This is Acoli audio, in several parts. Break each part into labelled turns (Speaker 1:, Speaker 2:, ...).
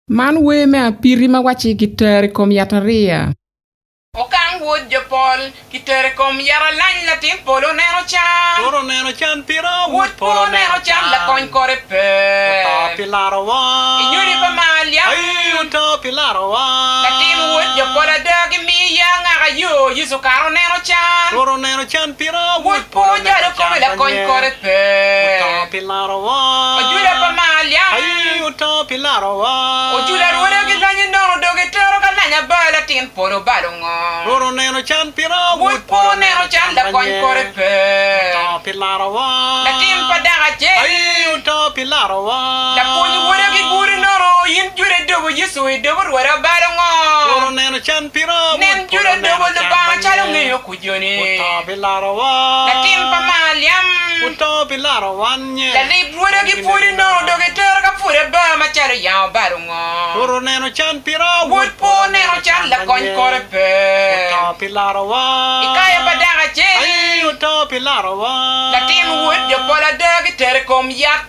Speaker 1: Man wer me apiti ma wacci kitero i kom yatariya. Okang Wod jo pol kitero i kom yaralany latin polo oneno can. Kore oneno can pira Wod polo oneno can lakony kore pe. Oto pi larowa I nyodi pa Maliam Ayii oto pi larowa Latin Wod jo polo ada gimiyo ya angaka yo Yecu kare oneno can. Kore oneno can pira Wod polo oneno can Lakony kore pe. Larowa. Ojuda pa Maaliam. Aye oto pi larowa. Ojuda rwode ki lonye nono dong gitero ka lanya ba latin polo obalo ngo. Rwot oneno can pira wod polo oneno can pa nye. Oto pi larowa. Latin pa dako acel. Aye oto pi larowa. Lapwony rwode ki gudi nono in juda idobo Yecu idobo rwode obalo ngo. Rwot oneno can pira wod polo oneno can pa nye. joni. Oto pi larowa. Latin pa Maliam. Oto pi laro wan nye. Lalib rwode ki pwod inongo dok itero ka pwod aba macalo yango bal ongo. Wot oneno can pira. Wod po oneno can lakony kore pe. Oto pi larowa. Ikayo pa dako acel. Aii oto pi larowa. Latin wod jo pol ada kitere ikom yat.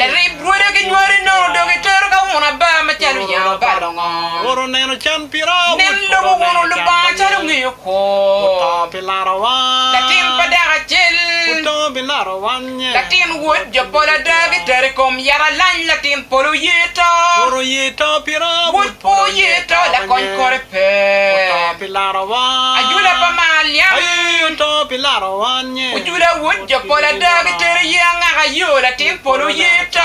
Speaker 1: Larib rwode ki nywale nongo dong itero ka wun aba ma calo oyabo ba longo. Nen lobo wun Olubanga calo ongeyo kwo. Latin pa dako acel, latin wod jo pol ada gitero i kom yat alany latin polo oye to. Wod pwo oye to lakony kore pe. Ajula pa mar niang Ojula wod jo pol ada Gitero ye angaka yo Latin polo ye to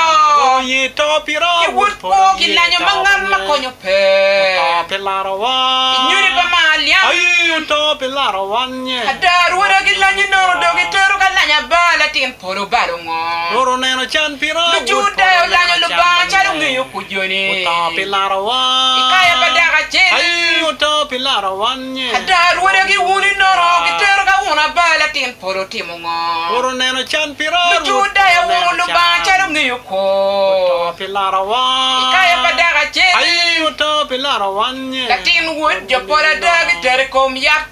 Speaker 1: Ki wod kwo ki lanyo Ma ngat ma konyo pe Inyodi pa mar niang Ada rwoda gilanyo nono Dong gitero ka lanya ba Latin pol obalo ngo? Lujuda olanyo Lubanga calo ongeyo kujone. I kare pa dako acel, ada arwode gi wuni nono gitero ka wun aba latin polo otimo ngo? Lujuda owungo Lubanga calo ongeyo kwo. I kare pa dako acel, latin wod jo pol ada gitero i kom yat.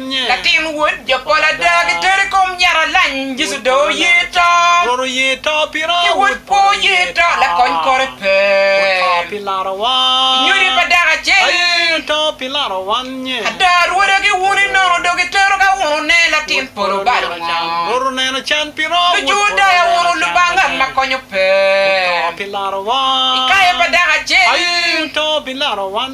Speaker 1: Latin wod jo pol ada gitero i kom nyaralany Yecu dong oye to, ki wod kwo oye to, lakony kore pe. Kinyodi pa dako acel ada rwode ki wune nono dong gitero ka unone latin pol obalo ngo. Lujuo daya uno Lubanga ngat ma konyo pe. I kayo pa dako acel.